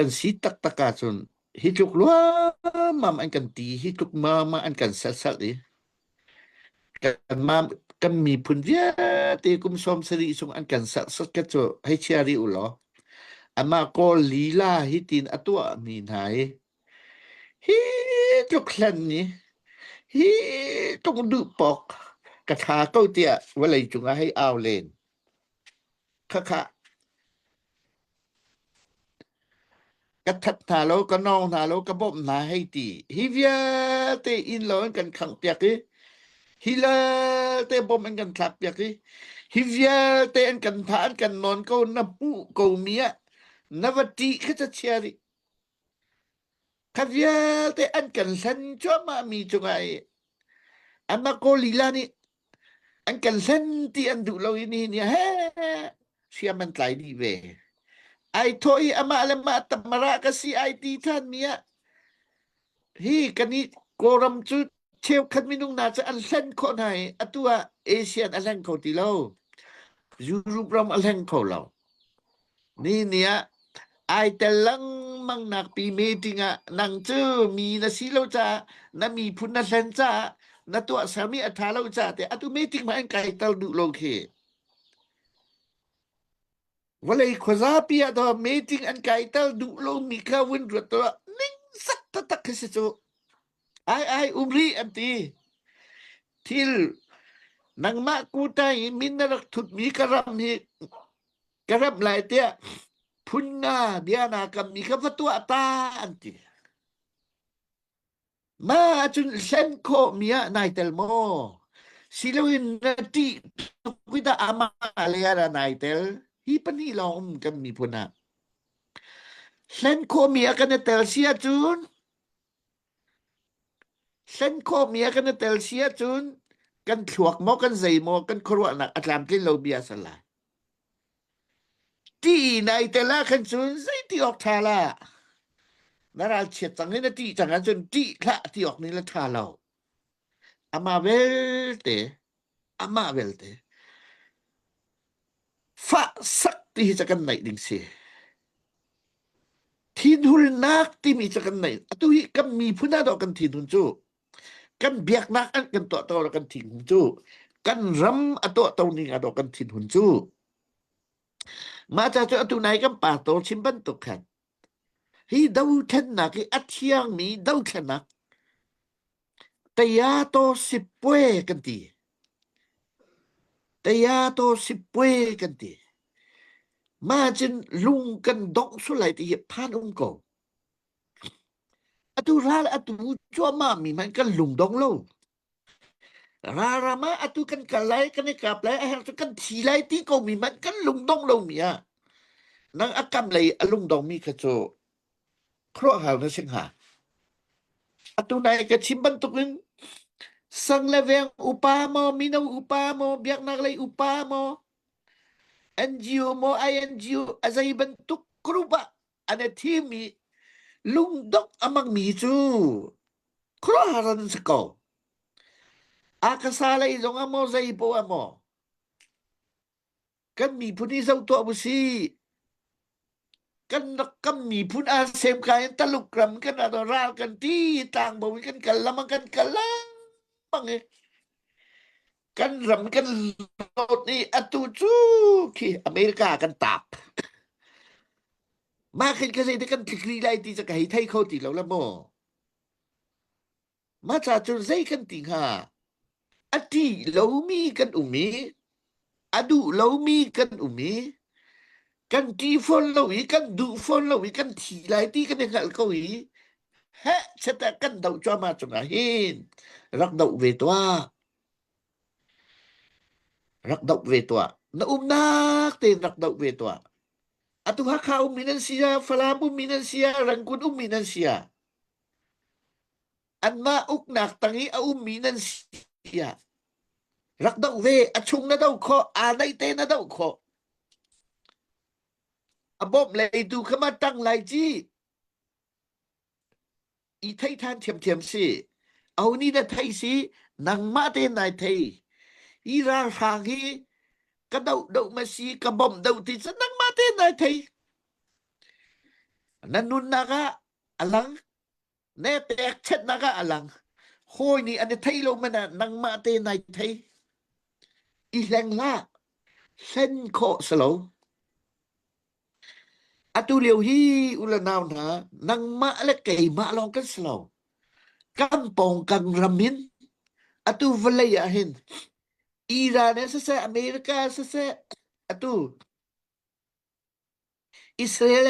Kan si taktak ahcun hi tluk luammam an kan ti, hi tluk luammam an kan salsal i kanmam kan miphun vialte kum sawm sarih sung an kan serhsat ka cu hei chia rih u law amah kawl lila hi tin a tuahmi hna hi hi tluk hlan ni hi tluk duh pawk ka tha ko tiah vawlei cungah hei au len Khakha ka that hna lo, ka nawng hna lo, ka bawmh hna hei ti. Hi vialte inn lo in kan khangh piak i, hi lalte bawmh in kan thlak piak i, hi vialte an kan thah, an kan nawn ko, na hmuh komi ah na va ṭih kha ca chia rih. Kha vialte an kan hlen cuahmahmi cungah i Marco Lila nih an kan hlen ti an duh lo i nihin ni ah he hriam an tlai dih ve. Ai thawh i amah le mah tamara ka si ai ti ṭhanmi ah hi kan i Kawlram cu cheukhat minung hna cu an hlen khawh hna i atu ah Asian a hleng kho ti lo Europe ram a hleng kho lo ni ni ah ai tel lengmang nak pi meeting ah nang cu mi na si lo ca na miphun na hlen ca na tuah sami a tha lo ca te atu meeting ma an kai tel duh lo khi Vawlei khuazapi ah to meeting an kaiter duh lomi kha vun ruat tuah ning sak taktak khi si cu. Ai ai umri an ti. Thil nangmah kutai i min na rak thutmi ka ram hi ka ram lai tiah phun nga bia na kam mi kha va tuah ta an ti. Mah ahcun hlen khawhmi ah nai tel maw? Siloin na ṭih tuk i dah amah lei ah a nai tel? Hi pahnih lawng um kan miphun ah. Hlen khawhmi ah kan i tel si ahcun hlen khawhmi ah kan i tel si ahcun kan thluak maw, kan zei maw, kan khuaruahnak a tlamtlin lomi a si lai. Ti nai tel ah khan cun zeiti awk ṭha la na ralchiat cang i na ṭih cang ahcun ṭih hlah ti awk nih la ṭha lo. Ama belte, amah belte fah sak ti hi cu kan naih ding si. Thinhunnak timi cu kan naih. Atu hi kan miphun ah doh kan thinhun cu kan biaknak an kan tuahto le kan thinhun cu kan ram a tuahto ning ah kan thinhun cu mah ca cu atu nai kan pastor chim bantuk khan hi dothlennak hi a thiangmi dothlennak taya to sipwe kan ti taya to sipwe kan ti ma cin lung kan dok sulai ti hi phan um ko Atu ral atu cuahmah mi hmanh kan lung dong lo. Ralram ah atu kan kal lai, kan i kap lai, a herh cu kan thi lai ti ko mi hmanh kan lung dong lo mi ah nang a kam lei a lung dong mi kha cu khuaruahhar na si hnga. Atu nai ka chim bantukin sang le veng upa maw mino upa maw biaknak lei upa maw NGO maw INGO a zei bantuk group ah an i thimi lungdok a mangmi cu khuaruahhar an si ko a kasa lei zong ah maw zei poh ah maw kan miphun hi zo tuah bu si kan rak kam miphun a sem ka in taluk ram kan ado ral kan ti tlang bo in kan kal lama kan kal lama nge kan ram kan lot i atu cu khi America kan taap mah khin ka zei te kan tikri lai ti ca ka hei thei kho ti lo la maw mah ca cu zei kan ti hnga a ṭih lomi kan um i a duh lomi kan um i kan ṭih fawn lo i kan duh fawn lo i kan thi lai ti kan i hngalh ko i he cheta kan doh cuahmah cungah hin rak doh ve tuah Rak doh ve tuah. Na umnak tein rak doh ve tuah. Atu Hakha ummi nan sia, Falam ummi nan sia, Rangoon ummi nan sia. Anmah uknak tang i a ummi nan sia. Rak doh ve. A chung na do khawh. Aa naih te na do khawh. A bawmh leitu kha ma tang lai ci. i thei than thiamthiam si oni na thei si nangmah te nai thei i ralhrang hi ka do do ma si ka bom do ti sa nangmah te nai thei na nun naga alang ne pek chet naga alang hoi ni an thei lo mana nangmah te nai thei i hleng la hlen kho salo Atu lio hi u le nau hna, nangmah le keimah lawng kan si lo. Kan pawng kan ram hin atu vawlei ah hin Iran in siseh, America siseh, atu Israel